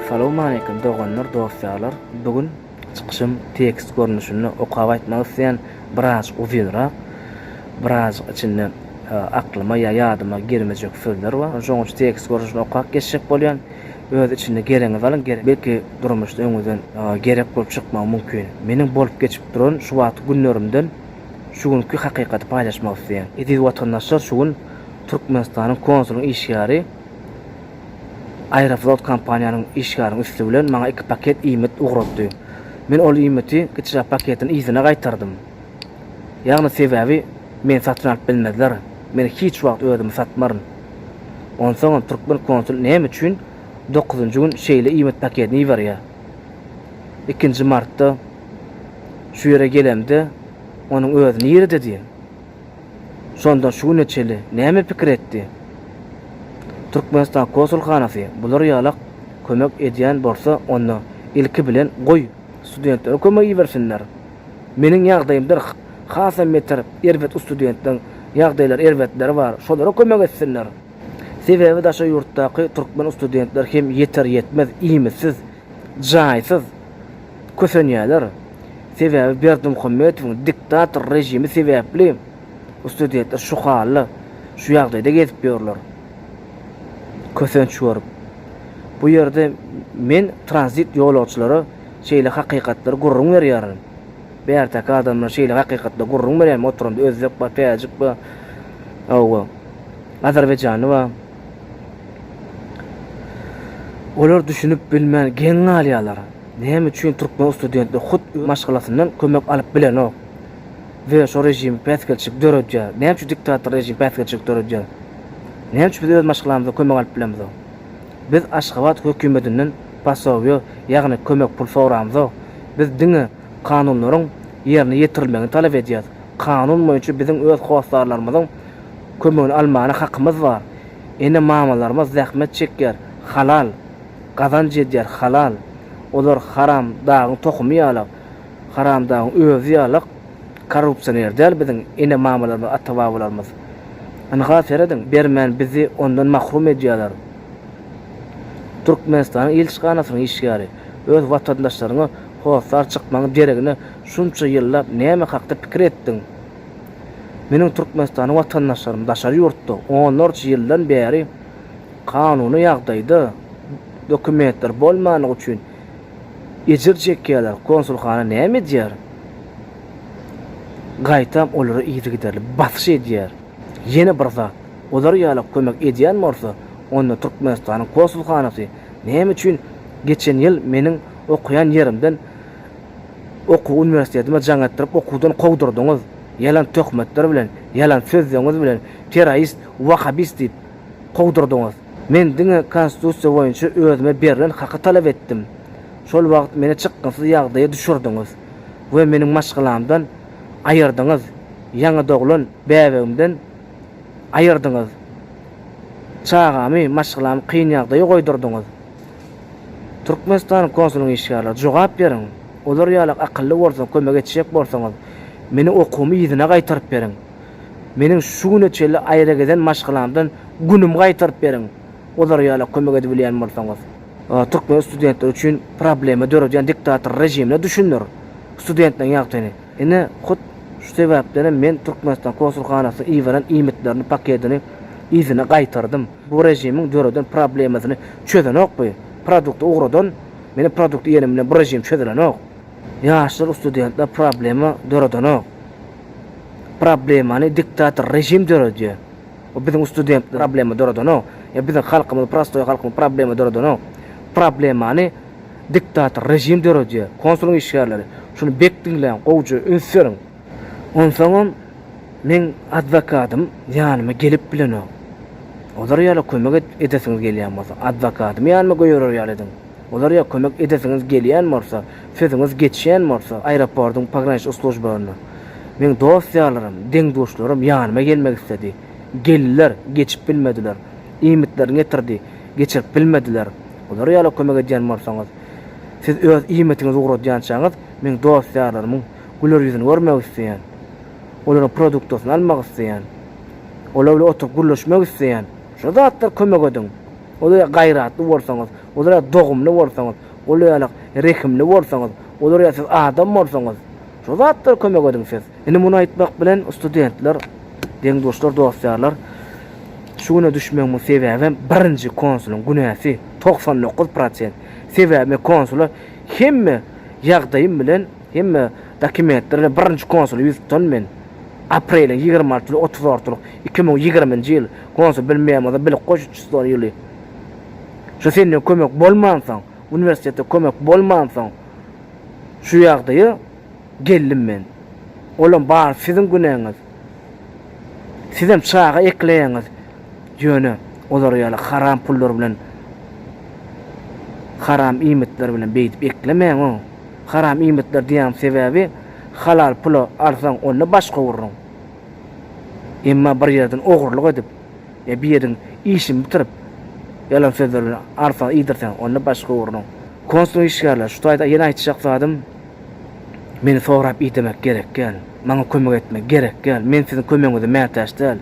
Salam aleykum doganlar dost ýarlar bugün Çykyşym tekst görnüşinde okap aýtmak isleýän, biraz uzynrak, biraz içinde aklyma ýa ýadyma girmejek sözler bar. Şonuň üçin tekst görnüşinde okap geçjek bolýan. Öz içinde geregiňizi alyň, belki durmuşda öňüňizden gerek bolup çykmagy mümkin. Meniň bolup geçip duran şu wagtky günlerimden şu günki hakykaty paýlaşmak isleýän. Eziz watandaşlar şu gün Türkmenistanyň konsulyň işgäri. Aeroflot kompaniýanyň işgäriň üsti bilen maňa iki paket iýmit ugratdy. Men ol iýmiti gyçrak paketiň yzyna gaýtardym. Ýagny sebäbi meni satyn alyp bilmezler. Men hiç wagt özümi satmaryn. Onsoňam türkmen konsul näme üçin dokuzynjy gün şeýle iýmit paketini iberýär? Ikinji martda şu ýere gelemde onuň özi nirede diýen. Şonda şu güne çenli näme pikir etdi? Türkmenistan Konsulhanasy bular ýalak kömek edýän bolsa onda ilki bilen goý studentleri kömek ibersinler. Meniň ýagdaýymdyr hasam beter erbet ustudentleriň ýagdaýlary erbetleri bar şolara kömek etsinler. Sebäbi daşary ýurtdaky türkmen ustudentler hem ýeter ýetmez iýmitsiz, jaýsyz. kösenýärler. Sebäbi Berdimuhamedowyň diktator režimi sebäpli studentler şu hal-da, şu ýagdaýda gezip ýörler. Kösenç görüp. Bu ýerde men tranzit ýolagçylara şeýle hakykatlary gürrüň berýärin. Bärteki adamlar şeýle hakykatlary gürrüň berýärmi? Oturamda özbek bar, täjik bar. Hawa. Azerbaýjanly bar. Olar düşünip bilmän geň galýarlar. Näme üçin türkmen studentler hut öz maşgalasyndan kömek alyp bilenok we şo režim päsgelçilik döredýär? Näme üçin diktator režim päsgelçilik döredýär? Näme üçin biz öz maşgalamyzdan kömek alyp bilemizok? Biz Aşgabat hökümetinden posowiýa, ýagny kömek pul soramzok. Biz diňe. kanunlaryň ýerine ýetirilmegini talap edýäris. Kanun boýunça biziň öz hossarlarymyzyň kömegini almana hakymyz bar. Ene-mamalarymyz zähmet çekýär, halal gazanç edýär, halal. Olar Haram dagyň tohumy ýalak, Haram dagyň özi ýalak korrupsioner däl biziň ene-mamalarymyz, ata-babalarymyz. Ynha serediň, bermän bizi ondan mahrum edýärler. Türkmenistanyň ilçihanasynyň işgäri. öz watandaşlaryňa hossar çykmaň deregine şunça ýyllap näme hakda pikir etdiň? Meniň Türkmenistana watandaşlarym daşary ýurtda onlarça ýyldan bäri kanuny ýagdaýda dokumentleri bolmanlygy üçin ejir çekýärler, konsulhana näme edýär? Gaýtam olara yzygiderli basyş edýär. Ýene bir zat, olar ýala kömek edýän bolsa onda Türkmenistanyň konsulhanasy Näme üçin geçen ýyl meniň okaýan ýerimden okuw uniwersitetime jaň etdirip okuwdan kowdurdyňyz, ýalan töhmetler bilen, ýalan sözleňiz bilen terrorist, wahabist diýip kowdurdyňyz. Men diňe konstitusiýa boýunça özüme berlen haky talap etdim. Şol wagt meni çykgynsyz ýagdaýa düşürdiňiz we meniň maşgalamdan aýyrdyňyz, ýaňy doglan bäbegimden aýyrdyňyz. Çagamy, maşgalamy kyn ýagdaýa goýdurdyňyz. Türkmenistanyň konsulyň işgärleri, jogap beriň! Olar ýalak akylly bolsa, kömek etjek bolsaňyz, meniň okuwymy yzyna gaýtaryp beriň. Meniň şu güne çenli aýra gezen maşgalamdan günümi gaýtaryp beriň, olar ýalak kömek edibilýän bolsaňyz. Türkmen studentleri üçin problema döredýän diktator režimine düşündir studentleriň ýagtyny. Ine, hut şu sebäpdenem men Türkmenistan konsulhanasynyň iberen iýmitleriniň paketini yzyna gaýtardym. Bu režimiň döreden problemasyny çözenok bu. Produkty ugradan, meniň produkty iýenim bilen bu režim çözülenok. Ýaşlar, ustudentler problema döredenok. Problemany diktator režim döredýär. Bu biziň ustudentler problema döredenok. Ýa biziň halkymyz, prostoý halkymyz problema döredenok. Problemany Diktator režim döredýär. Konsulyň işgärleri, şuny bek diňläň, gowja üns beriň. Onsoňam meň adwokadym ýanyma gelip bilenok. Olar ýala kömek et, edesiňiz gelýän bolsa, adwokadymy ýanyma göýerer ýaly ediň. Olar ýa kömek edesiňiz gelýän bolsa, sözüňiz geçýän bolsa, aeroportyň pograniçnik slujbalarynda. Meň dost-ýarlarym, deň-duşlarym ýanyma gelmek isledi. Geldiler, geçip bilmediler. Iýmitlerini getirdi, geçirip bilmediler. Olara ýaly kömek edýän bolsaňyz, siz öz iýmitiňizi ugradýançaňyz, meň dost-ýarlarymyň güler ýüzüni görmek isleýän, olaryň produktasyny almak isleýän, olar bilen oturyp gürleşmek isleýän. Şu zatlar kömek ediň. Olar ýaly gaýratly bolsaňyz, olar ýaly dogumly bolsaňyz, olar ýaly rehimli bolsaňyz, olar ýaly siz adam bolsaňyz, şu zatlar kömek ediň siz. Indi muny aýtmak bilen studentler, deň-duşlar, dost-ýarlar, şu güne düşmegimin sebäbem birinji konsulyň günäsi, togsan dokuz prosent. Sebäbi men konsula hemme ýagdaýym bilen, hemme dokumentler bilen birinji konsula ýüz tutan men. Apreliň ýigrimi altysy we otuz altylyk iki müň ýigriminji ýyl konsul Bill Memoza bilik goşuçysy bolan ýyly. Şu senden kömek bolmansoň, uniwersitete kömek bolmansoň şu ýagdaýa geldim men. Olam bar siziň günäňiz. Sizem çaga ekleýäňiz. Ýöne olar ýaly haram pullar bilen, haram iýmitler bilen beýdip eklemäň o. Haram iýmitler diýýäň sebäbi halal pula alsaň onda baş gowurryň. Emma bir ýerden ogurlyk edip ýa bir ýeriň işini bitirip ýalan sözler bilen alsaň iýdirseň onda baş gowurryň. Konsul işgärler şu taýda ýene aýtjak zadym. Meni sorap idemek gerek däl. Maňa kömek etmek gerek däl. Men siziň kömegiňize mätäç däl.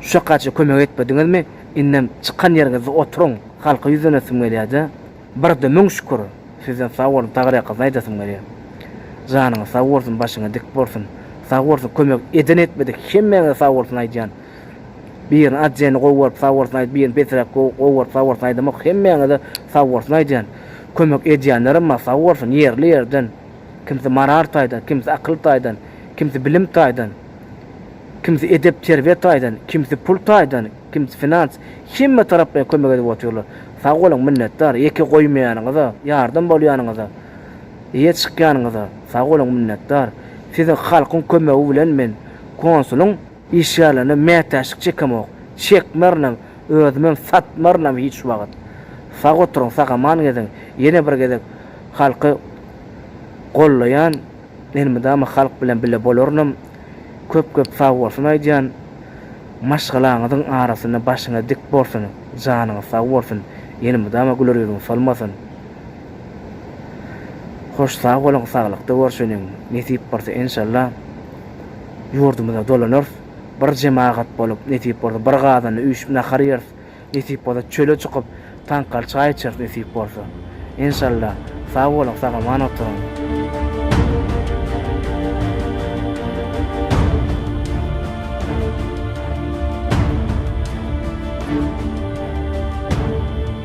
Şuwakgaça kömek etmediňizmi, indem çykan ýeriňizde oturyň. Halka ýüzlenesim gelýär-de. Birde müň şükür. Sizden sag boluň, Tagar ýakasyna aýdasym gelýär. Janyňyz sag bolsun, başyňyz dik bolsun. Sag bolsun, kömek eden-etmedik hemmäňize sag bolsun aýdýan. Birini atjeni gowy görüp saworsin aýt birini pesräk gowy görüp saworsin aýdamok hemmäňize saworsin aýdýan kömek edýänlerem bar saworsin ýerli ýerden kimsi marar taýdan kimsi akyl taýdan kimsi bilim taýdan kimsi edep terbiýe taýdan kimsi pul taýdan kimsi finans hemme taraplaýyn kömek edip otyrlar sag boluň minnetdar ýeke goýmaýanyňyza ýardam bolýanyňyza eýe çykýanyňyza sag boluň minnetdar siziň halkyň kömegi bilen men konsulyň Iş ýalana mätäçlik çekemok. Çekmernam, özümem satmarynam hiç wagt. Sag oturyň, sag-aman geziň. Ýene bir gezek halky gollaýan, elmydama halk bilen bile bolarynam. Köp-köp sagbolsun aýdýan. Maşgalaňyzyň arasynda başyňyz dik bolsun, janyňyz sag bolsun, elmydama güler ýüzüň solmasyn. Hoş sag boluň saglykda görşeniň nesip bolsa enşalla ýurdumyza dolanarys bir jemagat bolup nesip bolsa bir gazanda üýşüp nahar ýeris nesip bolsa çöle çykyp taňkaly çaý içeris nesip bolsa enşalla sag boluň sagaman oturyň.